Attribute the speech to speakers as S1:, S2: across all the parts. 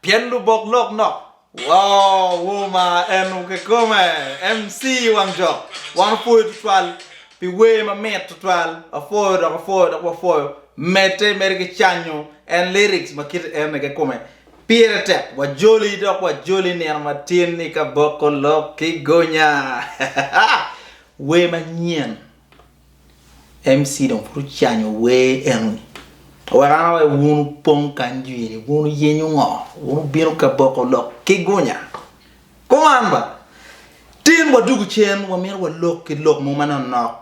S1: Pien lubok lok nok. Woo woo ma en o kikome MC wang jok wan opwoyo tutwal pi wer mamit tutwal apwoyo dok apwoyo dok wapwoyo mete mere ki canyo en lyrics ma kite ene kikome pire tek wajoli dok wajoli nino matin ni ka boko lok ki gonya wer manyen. MC dong pud ocanyo wer enoni. Wek an awe wun wupong kany jwi ni wun wuyenyo ngo? Wun wubino ka boko lok ki gunya. Kuman ba. Tin wadugu cen wamito walok ki lok mo manonok.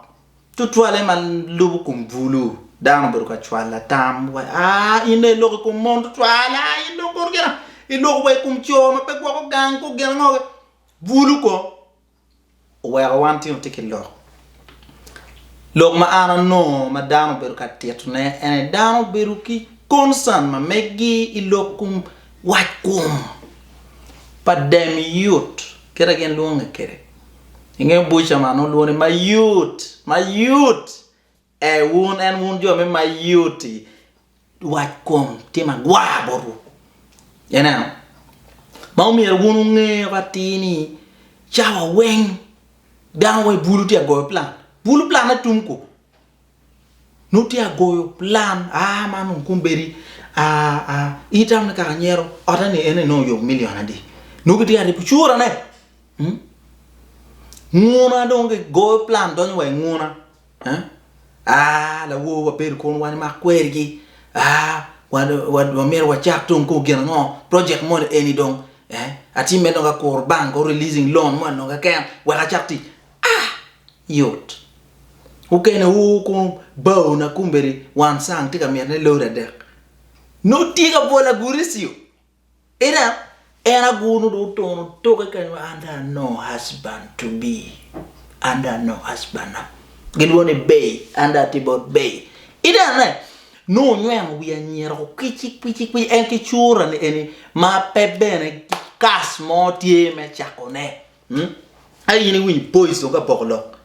S1: Tutwalle ma lubo kom bulu. Dano obedo ka cwalla tam wa ah in dong iloko i kom mon tutwal ah in dong kono gina iloko wa i kom co ma pe gwoko gang kong gin ango bulu kong. oweko wan tino tye ki lok. Lok ma an anongo ma dano obedo ka titone ene dano obedo ki concern ma megi i lok kom wac kom pa dem youth kite gin lwonge kwede. Ingeyo Buchaman nongo lwongo ni ma youth, ma youth. Ee wun, en wun jo me mayot-ti, wac kom tye magwar botwu. Ineno? Ma omyero wun wunge atir ni, cawa weng dano weng bulu tye ka goyo plan. Bulu planne tum ku. Nongo tye ka goyo plan, aa man nongo kun bedi, aa, aa, in itamone kaka anyero, ote-ni ene nongo yom milion adi. Nongo kitye ka ribo curane. Um? Nguna dong gigoyo plan donyo wa i nguna. Aa, lawor wabedo kun wan imak kwergi. Aa, wamyero wacak tung kung gin ango? Project moni eni dong eh, atimme dong akuru bank o releasing loan mo anongo keken wek acak tic. Aa, yot. Mukene wu kung bao na kumbedi wan sang tye ka miti ni lodi adek. Nut tye ka bwola Guricio. Ina, en aguno dong otono toke kany wa under a no husband to be under a no husband na gilwongo ni bay under a tibot bay ina ne nongo onyweno wi anyira ko kici kwici kwici en ki cura ni eni ma pe bene kas mo tye me cako ne hmm? a in iwinyo boys dong ka poko lok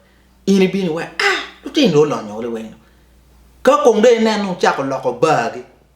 S1: in ibini wa ah lutino olonyo wole weng ka kong dong ineno cako loko bar gi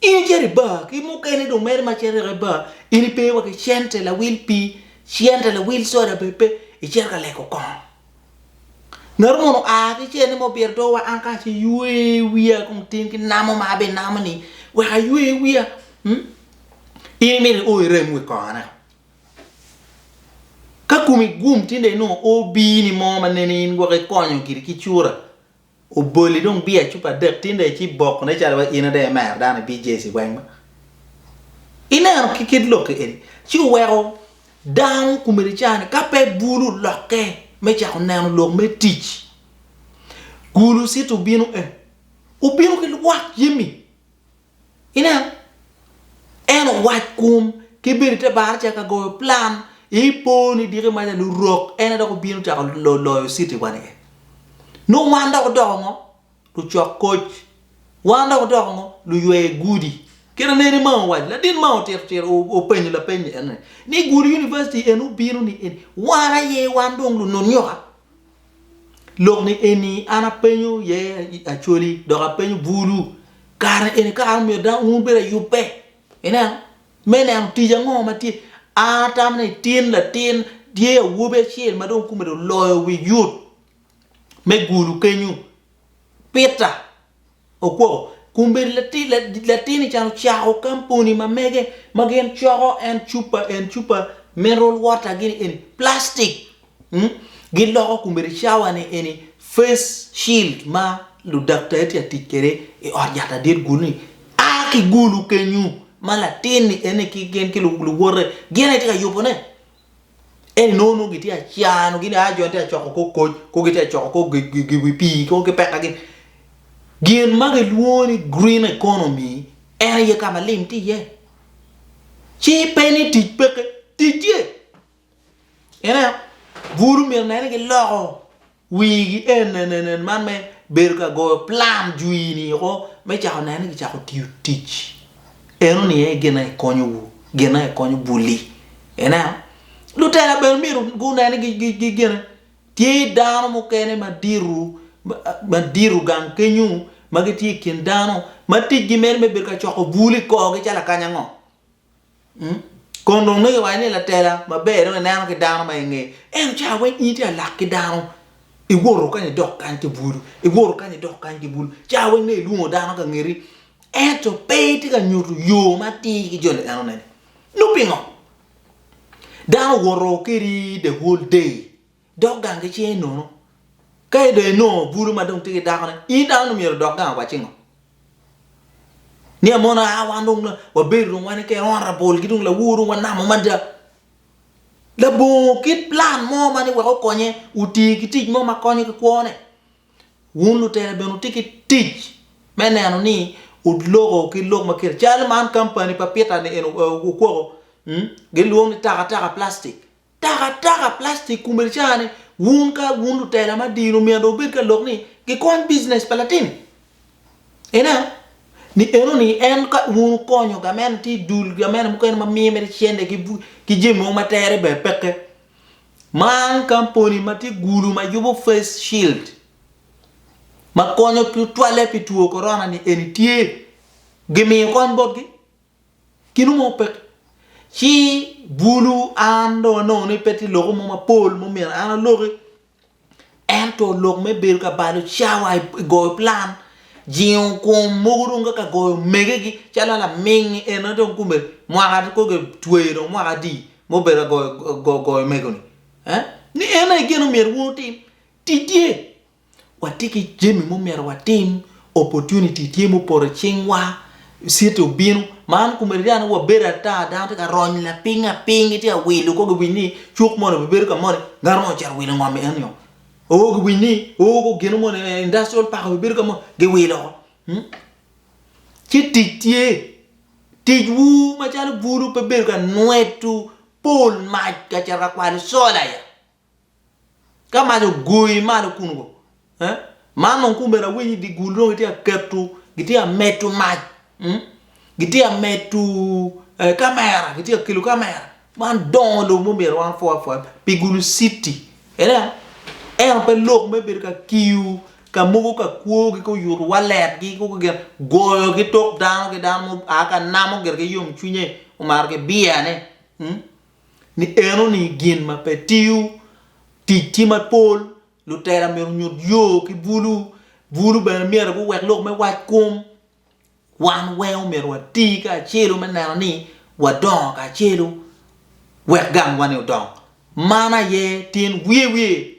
S1: In icito i bar ki mukene dong mere macito dok i bar, in ipe wa ki cente lawil pii, cente lawil soda bene pe, icito ka lego kong. Ngatu mono oa ki cente mo bito do wa an kong ace ywe wiya kong tin ki namo ma abe namo ni wek aywe wiya. Hmm? In imito i o irem wi kone. Ka komi gum tinde inongo obini mo ma nene in gwok ikonyo giri ki cura, Oboli dong beer cupa adek tinde aye ci bok ne calo wa in adong imero dano ibi jesi i gweng ma. Ineno ki kit lokke eni ci oweko dano kumene ca ni ka pe bulu lokke me cako neno lok me tic. Gulu city obino en obino ki lwak jami. Ineno? En owac kum ki bedo i te bar ocako ka goyo plan i po ni diki maca lurok en aye dok obino ocako loyo city wa ni kek. Nongo wan dok odoko ngo? Lucok koc. Wan dok odoko ngo? Luywer gudi. Kit aneni ma owaco, ladit ma otito tito openyo lapeny eni ni, ni gudi University eni obino ni eni wan aye wan dong lununyoka Lok ni eni an apenyo ye Acholi dok apenyo Bulu, kare eni kare omyero dang wun bedo ayubbe, ineno me neno tic ango ma tye. An atamo ni tin latin tye awobi acel ma dong kome dong oloyo wi yut me gulu kenyu, Pita. okwo. Kombeddi latin, latin-ni can ocako kampuni ma mege ma gin coko en cupa, en cupa mineral water gini eni plastic. Hmm? Giloko kombeddi cawa-ni eni face shield ma ludaktari tye ka tic kwede i ot yat adit gulu-ni. A ki gulu kenyu ma latin-ni ene ki gin ki luwote gin aye tye ka yubone. Enono gitye ka cano gin aa jo ni tye ka coko kor koc, kong gitye ka coko kor giwi pii kong ki pekka gin. Gin ma gilwongo ni green economy en aye ka ma lim tye iye. Ci pe ni tic peke, tic tye. Ineno bulu myero onene ni giloko. Wigi enenenen man me bedo ka goyo plan jwini oko me cako neno ni kicako tiyo tic. Eno ni aye gin aye konyo wu, gin aye konyo buli. Ineno? Lutela bene myero gunen gi, gi, gi gine. Tye dano mukene madito, madito gang kenyu ma gitye i kin dano ma ticgi mere me bedo ka coko bul i korgi calo akanya ngo. Kun dong nongo iwaco ni latela maber dong ineno ki dano ma inge, ento ce a wek in itye ka lak ki dano, iwoto kany idok kany ki bulu, iwoto kany idok kany ki bulu, ce a wek nongo ilwongo dano ka ngeti, ento pe itye ka nyuto yo matir ki joni enoni. Nongo pingo? Dano owoto kwedi the whole day. Dok gang ki cinge nono. Ka idong inongo bulu ma dong tye ki dakone, in dano-nu myero idok gang wa cingo? Ni a mono aa wan dong wabedo dong wan keken ongo rabol ki dong lawor dong wanamo mada. Labongo kit plan mo ma ni wek okonye oti ki tic mo ma konyo ki kwone. Wun lutela bene wuti ki tic me neno ni wuloko ki lok ma kite. Calo man kampani pa pita-ni eni okwoko, gilwongo ni Takataka Plastic. Takataka plastik kume lica ni wun ka wun lutela ma dino myero dong wubed ka lok ni gikony business pa latin ena ni eno ni en ka wun wukonyo gamente tye dul gamente mukene ma miye mere cente ki jami mogo ma tere ber peke. Man kamponi ma tye gulu ma yubo face shield ma konyo tutwalle pi two korona ni eni tye gimiyo kony botgi? Kino mo pe ci bulu an dong anongo ni pe tye lok mo mapol ma myero an aloki ento lok me bedo ka balo cawa i goyo plan jingo kom mogo dong kaka goyo omegegi calo laming en aye dong kome mwaka kong kitweyo dong mwaka adi ma obedo ka goyo omego-ni ni en aye gin ma myero wun wutim. Ticce Watye ki jami ma omyero watim, opportunity tye mupoto i cingwa, citi obino, ma an kome ryani wa bedo ata dano tye ka rony lapiny apiny gitye ka wilo kong giwiny ni cuk moni obibedo ka moni dano moni ocito wilo ngom eno nyo oo giwiny ni oo gino moni industrial park obibedo ka moni giwilo woko ci tic tye, ticwu macalo bulu pe bedo ka nwedo pol mac ka cito ka kwalo cola ya. Ka mac ogoyi malo kun ngo eh man dong kong omyero awiny idye gul dong gitye ka keto gitye ka medo mac gitye ka medo kamera gitye ka kelo kamera man dongo lobo ma myero wan wapwony apwoya pi gulu citi ineno ento pe lok me bedo ka kiyo ka mogo ka kwogi ka oyuto wa letgi ka gin goyo ki tok dano ki dano ma oa ka namo gire ki yomcwinye omaro ki biyane. ni eno ni gin ma pe tiyo tic tye mapol, lutela myero onyut yo ki bulu, bulu bene myero guwek lok me wac kom, wan weng myero wati kacelu me neno ni wadongo kacelu wek gang wani odong, mano aye tin wiye wiye.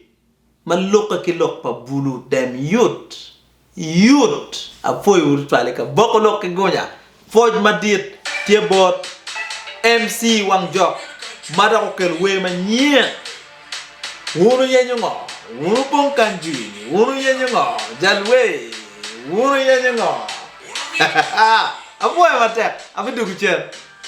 S1: ma lukke ki lok pa bulu dem yut yut apwoyowu tutwal i kaboko lok ki gunya pwoc madit tye bot MC wang jok ma dok okelo wer manyen wun wuyenyo ngo wun wubong kany jwi wun wuyenyo ngo jal wer wun wuyenyo ngo apwoyo matek abidugu cen.